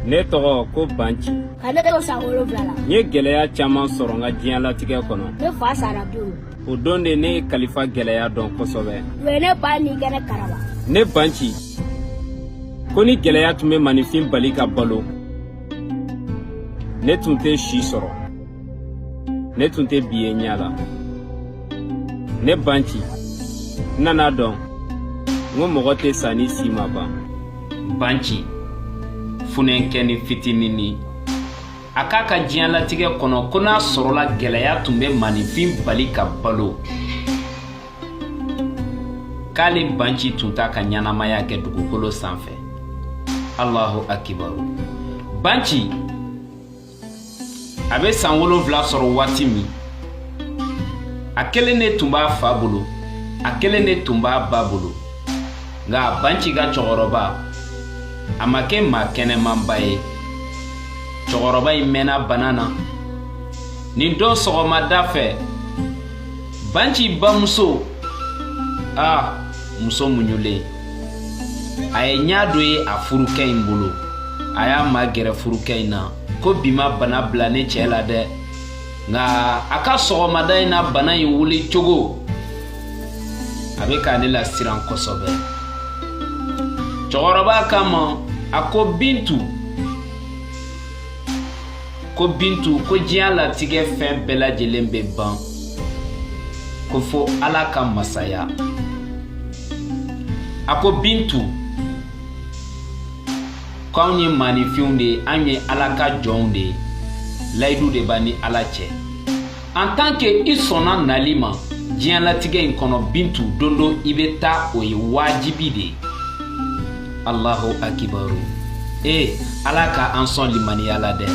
ne tɔgɔ ko banci ka ne to san wolonwula la n ye gɛlɛya caman sɔrɔ n ka diɲɛlatigɛ kɔnɔ ne fa sara don o don de ne ye kalifa gɛlɛya dɔn kosɛbɛ u ye ne ba ni kɛnɛ karaba ne banci ko ni gɛlɛya tun bɛ maninfin bali ka balo ne tun tɛ si sɔrɔ ne tun tɛ bi ye ɲɛ la ne banci n nana dɔn n ko mɔgɔ tɛ sa ni si ma ban banci funɛnkɛni fitinini a k'a ka diɲɛlatigɛ kɔnɔ ko n'a sɔrɔla gɛlɛya tun bɛ maninfin bali ka balo k'ale banci tun t'a ka ɲɛnamaya kɛ dugukolo sanfɛ alahu akibaru banci a bɛ san wolonfila sɔrɔ waati min a kelen de tun b'a fa bolo a kelen de tun b'a ba bolo nka banci ka cɛkɔrɔba a ma kɛ maa kɛnɛmanba ye cɛkɔrɔba in mɛnna bana na nin don sɔgɔmada fɛ banci bamuso a muso muɲulen a ye ɲa dɔ ye a furukɛ in bolo a y'a magɛrɛ furukɛ in na ko bi ma bana bila ne cɛ la dɛ nka a ka sɔgɔmada in na bana in wuli cogo a bɛ ka ne lasiran kosɛbɛ cɛkɔrɔba kama a ko bintu ko bintu ko diɲɛlatigɛ fɛn bɛɛ lajɛlen bɛ ban ko fo ala ka masaya a ko bintu k'anw ye maninfinw de ye an ye ala ka jɔnw de ye layidu de b'an ni ala cɛ en tant que i sɔnna nali ma diɲɛlatigɛ in kɔnɔ bintu don dɔ i bɛ taa o ye wajibi de ye alahu akibaru ee ala ka an sɔn limaniya la dɛ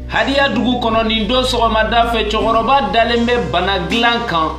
hadiya dugu kɔnɔ nin don sɔgɔmada fɛ cɛkɔrɔba dalen bɛ bana dilan kan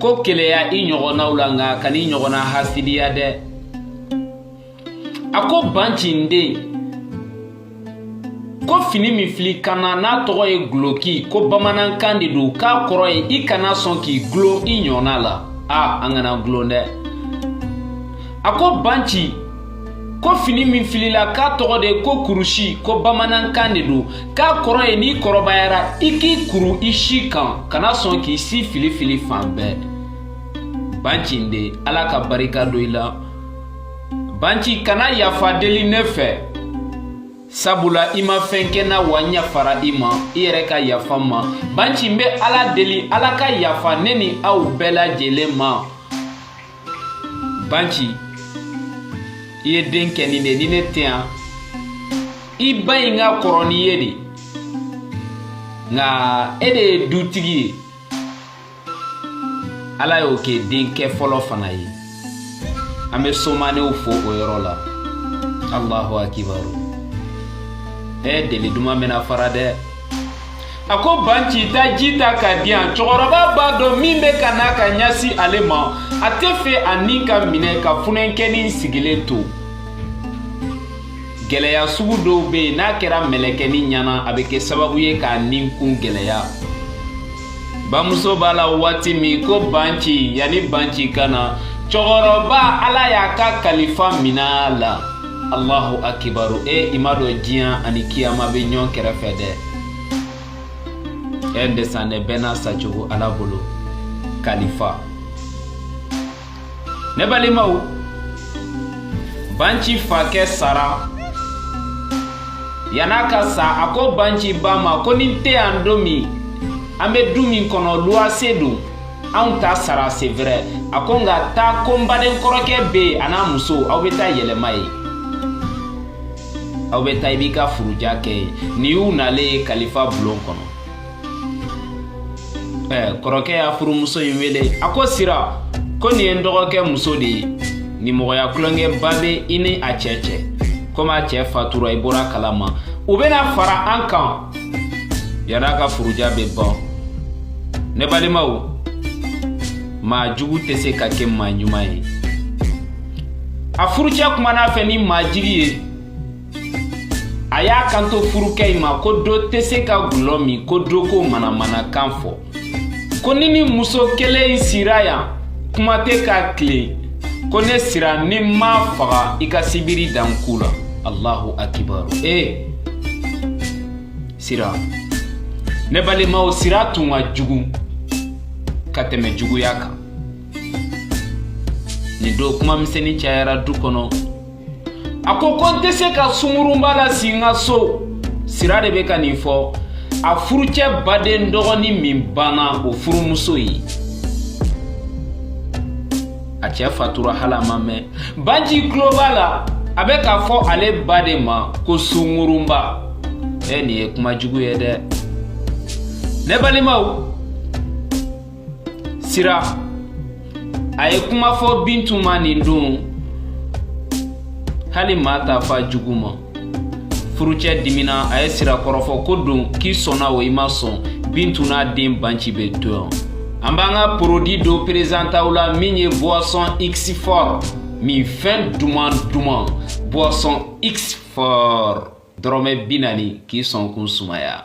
ko keleya i ɲɔgɔnnaw la nka kan'i ɲɔgɔnna hasidiya dɛ a ko banci n den ko fini min fil'i kan na n'a tɔgɔ ye guloki ko bamanankan de don k'a kɔrɔ ye i kana sɔn k'i gulon i ɲɔgɔnna la a an kana gulon dɛ a ko banci ko fini min fil'i la k'a tɔgɔ de ko kurusi ko bamanankan de don k'a kɔrɔ ye n'i kɔrɔbayara i k'i kuru i si kan kana sɔn k'i si filifili fan bɛɛ banci n den ala ka barika don i la banci kana yafa deli ne fɛ sabula i ma fɛn kɛ n na wa n yafara i ma i yɛrɛ ka yafa n ma banci n bɛ ala deli ala ka yafa ne ni aw bɛɛ lajɛlen ma banci i ye denkɛnin de ni ne tɛ yan i ba in ka kɔrɔ n'i ye de nka e de ye dutigi ye ala y'o kɛ denkɛ fɔlɔ fana ye an bɛ somanew fo o yɔrɔ la alahu akibaru ɛ deli duman bɛna fara dɛ a ko banci taa ji ta ka di yan cɛkɔrɔba b'a dɔn min bɛ ka na ka ɲasi ale ma a tɛ fɛ a ni ka minɛ ka funɛnkɛnin sigilen to gɛlɛya sugu dɔw bɛ yen n'a kɛra mɛlɛkɛnin ɲɛna a bɛ kɛ sababu ye k'a ni kun gɛlɛya bamuso b'a la waati min ko banci yanni banci ka na cɛkɔrɔba ala y'a ka kalifa minɛ a la Allahu akibaru e i m'a dɔn diɲɛ ani kiyama bɛ ɲɔgɔn kɛrɛfɛ dɛ e ndesane bɛɛ n'a sacogo ala bolo kalifa ne balimaw banci fakɛ sara yann'a ka sa a ko banci ba ma ko ni n tɛ yan don min an bɛ du min kɔnɔ luwase don anw t'a sara c'est vrai a ko nka taa ko n baden kɔrɔkɛ bɛ yen a n'a muso aw bɛ taa yɛlɛma yen aw bɛ taa i b'i ka furuja kɛ yen nin y'u nalen ye kalifa bulon kɔnɔ ɛɛ kɔrɔkɛ y'a furumuso in wele a ko sira ko nin ye n dɔgɔkɛ muso de ye nimɔgɔya tulonkɛba bɛ i ni a cɛ cɛ komi a cɛ fatura i bɔr'a kalama u bɛna fara an kan yann'a ka furuja bɛ ban ne balimaw maa jugu tɛ se ka kɛ maa ɲuman ye a furucɛ kuman'a fɛ ni majigin ye a y'a kanto furukɛ in ma ko dɔ tɛ se ka gulɔ min ko dɔ ko manamanakan fɔ ko ni nin muso kelen in sira yan kuma tɛ ka tilen ko ne sira ni n m'a faga i ka sibiri da n ku la allahu akibaru ee eh. sira ne balimaw sira tun ka jugu ka tɛmɛ juguya kan nin don kuma misɛnnin cayara du kɔnɔ a ko ko n tɛ se ka sungurunba lasi n ka so sira de bɛ ka nin fɔ a furucɛ baden dɔgɔnin min banna o furumuso ye a cɛ fatura hali a ma mɛn banci tulo b'a la a bɛ k'a fɔ ale ba de ma ko sungurunba ɛ nin ye kuma jugu ye dɛ ne balimaw sira a ye kuma fɔ bintu ma nin don hali maa t'a f'a jugu ma furucɛ dimina a ye sira kɔrɔfɔ k'o dɔn k'i sɔnna o i ma sɔn bintu n'a den banci bɛ to yan an b'an ka produit dɔ présenter aw la min ye boisson x fort minfɛn duman duman boisson x fort dɔrɔmɛ bi naani k'i sɔnkun sumaya